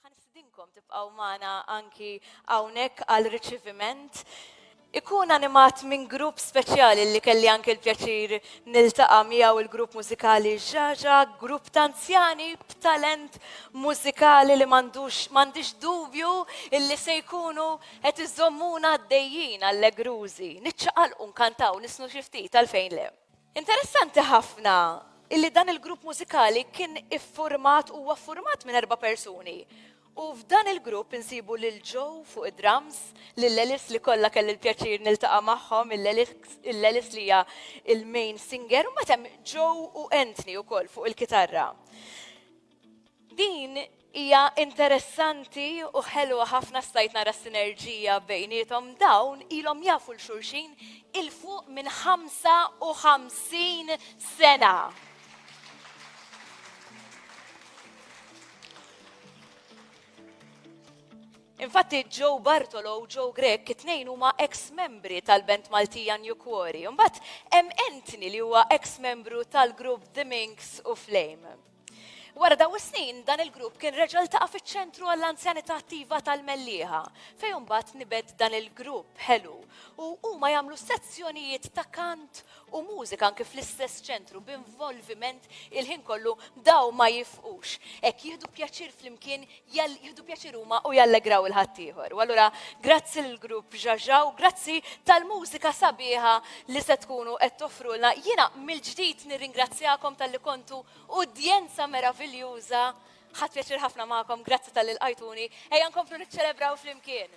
Ħa nistidinkom tibqgħu magħna anki hawnhekk għal riċiviment. Ikun animat minn grupp speċjali li kelli anki l-pjaċir niltaqa' miegħu il-grupp mużikali Ġaġa, grupp ta' anzjani b'talent mużikali li m'għandux m'għandix dubju illi se jkunu qed iżommuna għaddejjin allegrużi. Niċċaqalqu nkantaw nisnu xi ftit għalfejn le. Interessanti ħafna illi dan il-grupp mużikali kien iffurmat huwa ffurmat minn erba' persuni. U f'dan il-grupp insibu lil Joe fuq id-drums, lil Elis li kollha kelli l-pjaċir niltaqa' magħhom, il-Elis li hija il-main singer, u mbagħad hemm Joe u Anthony wkoll fuq il-kitarra. Din hija interessanti u ħelwa ħafna stajt nara s-sinerġija bejniethom dawn ilhom jafu 'l xulxin 'il fuq minn 55 sena. Infatti Joe Bartolo u Joe Grech it-tnejn huma ex-membri tal-band Maltija New Quarry. Imbagħad hemm Anthony li huwa ex-membru tal-grupp The Minx u Flame. Wara daw is-snin, dan il-grupp kien reġa' ltaqa' fiċ-Ċentru għall-Anzjanità Attiva tal-Mellieħa, fejn imbagħad nibet dan il-grupp ħelu u huma jagħmlu sezzjonijiet ta' kant u mużika anke fl-istess ċentru b'involviment il-ħin kollu daw ma jifqux. Hekk jieħdu pjaċir flimkien jieħdu pjaċir huma u jallegraw il-ħaddieħor. U allura grazzi l-grupp Ġaġa u grazzi tal-mużika sabiħa li se tkunu qed toffrulna. Jiena mill-ġdid nirringrazzjakom tal-li kontu udjenza meraviljuża. Ħadd pjaċir ħafna magħkom, grazzi tal-li lqajtuni. Ejja nkomplu niċċelebraw flimkien.